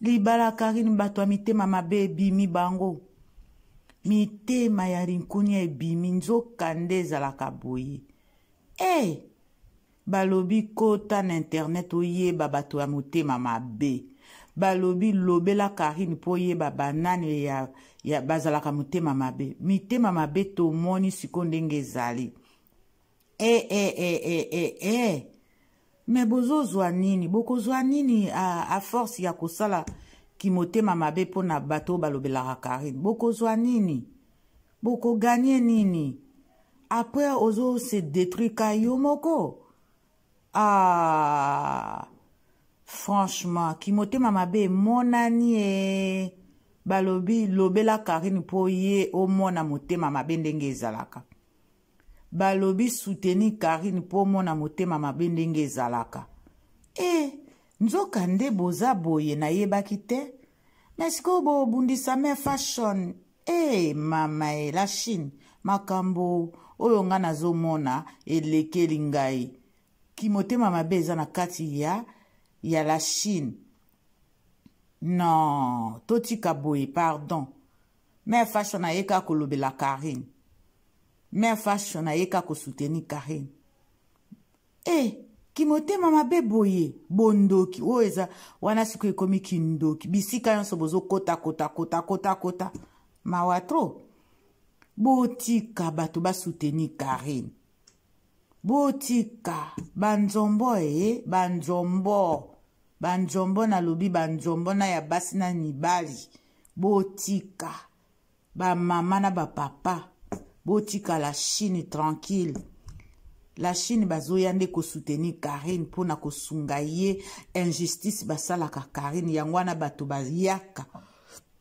libala karine bato ya mitema mabe ebimi bango mitema ya rinkunia ebimi nzoka nde ezalaka boye e hey! balobi kota na internet oyeba bato ya motema mabe balobi lobela karine mpo oyeba banani ya, ya bazalaka motema mabe mitema mabe tomoni sikoyo ndenge ezali eh, eh, eh, eh, eh, eh. me bozozwa nini bokozwa nini a, a force ya kosala kimotema mabe mpo na bato oyo balobelaka karine bokozwa nini bokoganye nini après ozo se détruire ka yo moko ah franchement kimotema mabe emonani e balobi lobela karine mpo ye omona motema mabe ndenge ezalaka balobi soutenir karine mpo omona motema mabe ndenge ezalaka e eh, nzoka nde boza boye nayebaki te me sikoyo bobundisa me fashion e eh, mama e eh, la chine makambo oyo ngai nazomona elekeli ngai kimotema mabe eza na kati ya ya la chine non totika boye pardon mère fashion aye kaka kolobela carine mère fashion aye kaka kosoutenir carine e eh, kimotema mabe boye bondoki oyo eza wana sikoyo ekomi kindoki bisika nyonso bozokota kota kota kota kota mawa tro botika bato basoutenir carine botika banzombo eye banzombo banzombo nalobi banzombo na ya basi na mibali botika bamama na bapapa botika la chine tranquille la chine bazoya nde kosoutenir karine mpo na kosunga ye injustice basalaka karine yango wana bato bayaka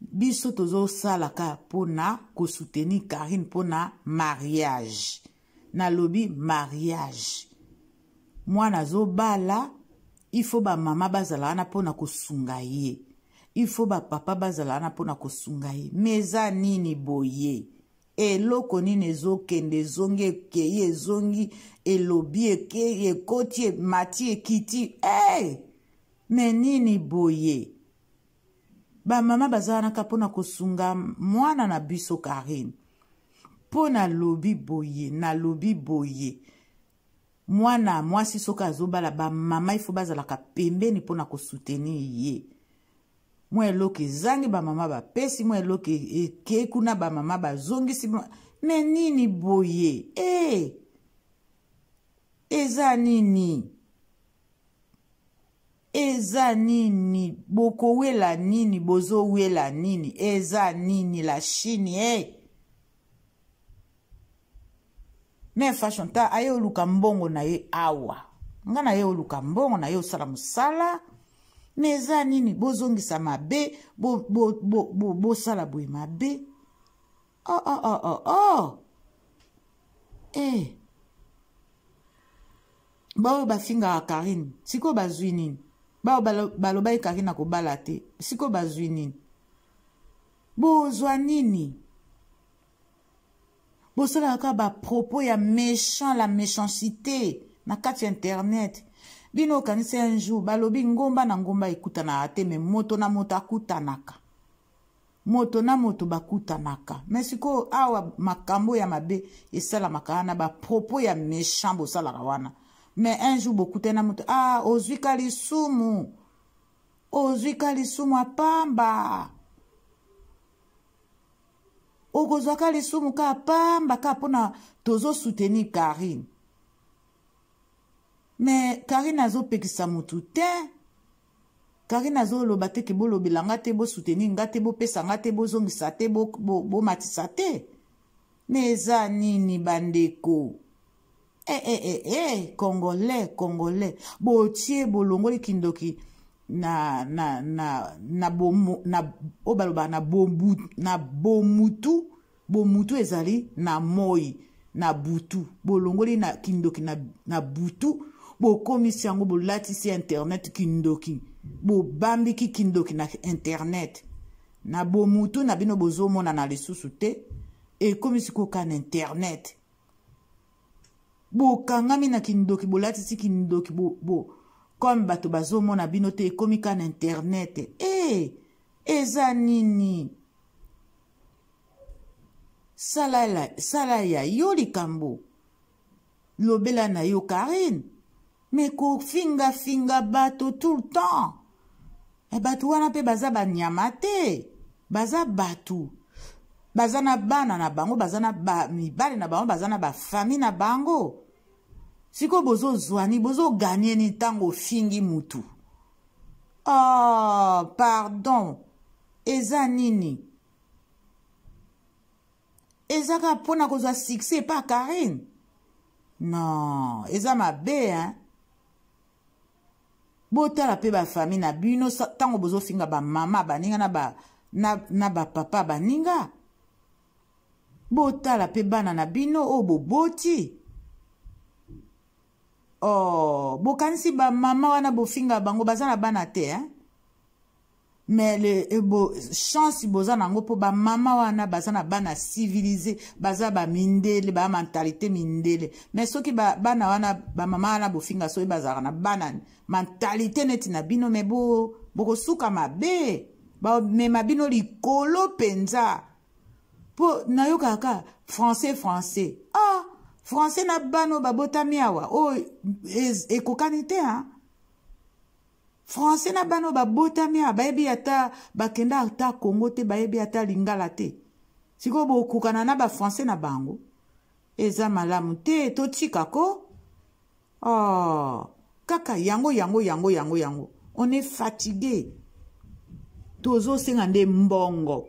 biso tozosalaka mpo na kosoutenir karine mpo na mariage nalobi mariage mwana azobala ifo bamama bazala wana mpo na kosunga ye ifo bapapa bazala wana mpo na kosunga ye me eza nini boye eloko nini ezokende ezongi ekei ezongi elobi ekei ekoti emati ekiti hey! me nini boye bamama baza wana ka mpo na kosunga mwana na biso karine mpo nalobi boye nalobi boye mwana mwasi soki azobala bamama ifo bazalaka pembeni mpo na kosoutenir ye mwa eloko ezangi bamama bapesi mwa eloko e-, ekei kuna bamama bazongisi me nini boye e hey! eza nini eza nini bokowela nini bozowela nini eza nini la chine hey! Eh? me fashion ta aye oluka mbongo na ye awa nga na ye oluka mbongo na ye osala mosala me eza nini bozongisa mabe bosala bo, bo, bo, boye mabe Oh oh oh oh oh. Eh. Baoyo bafingaka Karine, siko bazwi nini? Baoyo balobaki Karine akobala te, siko bazwi nini? Bozwa nini? Bosalaka kaka ba propos ya méchant la méchanceté na kati ya internet. Bino okanisi un jour balobi ngomba na ngomba ekutanaka te, mais moto na moto akutanaka. moto na moto bakutanaka me sikoyo awa makambo ya mabe esalamaka wana bapropos ya méchant bosalaka wana me un jour bokutani na moto ah ozwi ka lisumu ozwi ka lisumu apamba okozwa ka lisumu ka apamba ka mpona tozosoutenir karine me karine azopekisa motu te Karine azo loba te ke bolobela nga te bo soutenir nga te bopesa nga te bozongisa te bomatisa bo, bo te me eza nini bandeko eh, eh, eh, eh, congolais congolais botie bolongoli kindoki na na na na bomo na oyo balobaka na bomu na bomutu bomutu ezali na moi na butu bolongoli na kindoki na, na butu bokomisi yango bolatisi internet kindoki bobambiki kindoki na internet na bomutu na bino bozomonana lisusu te ekomisi koka na internet bokangami na kindoki bolatisi kindoki bo, bo, comme bato bazomona bino te ekomi ka na internet e hey, eza nini sala, sala ya yo likambo lobela na yo karine me kofingafinga bato tout le temps eh, bato wana mpe baza banyama te baza bato baza na bana na bango baza na ba, mibali na bango baza na bafami na bango sikoyo bozozwani bozoganie ni ntango ofingi mutu oh, pardon eza nini eza kaka mpo na kozwa succès epa karine non eza mabe hein botala mpe bafamille na bino ntango bozofinga bamama baninga na, ba, na, na bapapa baninga botala mpe bana na bino oyo boboti oh, bokanisi bamama wana bofinga bango baza na bana te hein? mais le eh, bo, chance boza nango mpo bamama wana baza na bana civilise baza bamindele ba mentalité mindele mais soki ba, bana wana bamama wana bofinga soki bazalaka na bana mentalité neti na bino mais bo, bokosuka mabe bamema bino likolo mpenza mpo nayokaka kaka français français ah français na bana oyo babotami awa oyo oh, ekokani te hein? français na bana oyo babotami awa bayebi ata bakenda ata congo te bayebi ata lingala te sikoyo bokokana na bafrançais na bango eza malamu te totika ko oh, kaka yango yango yango yango yango on est fatigue tozosenga nde mbongo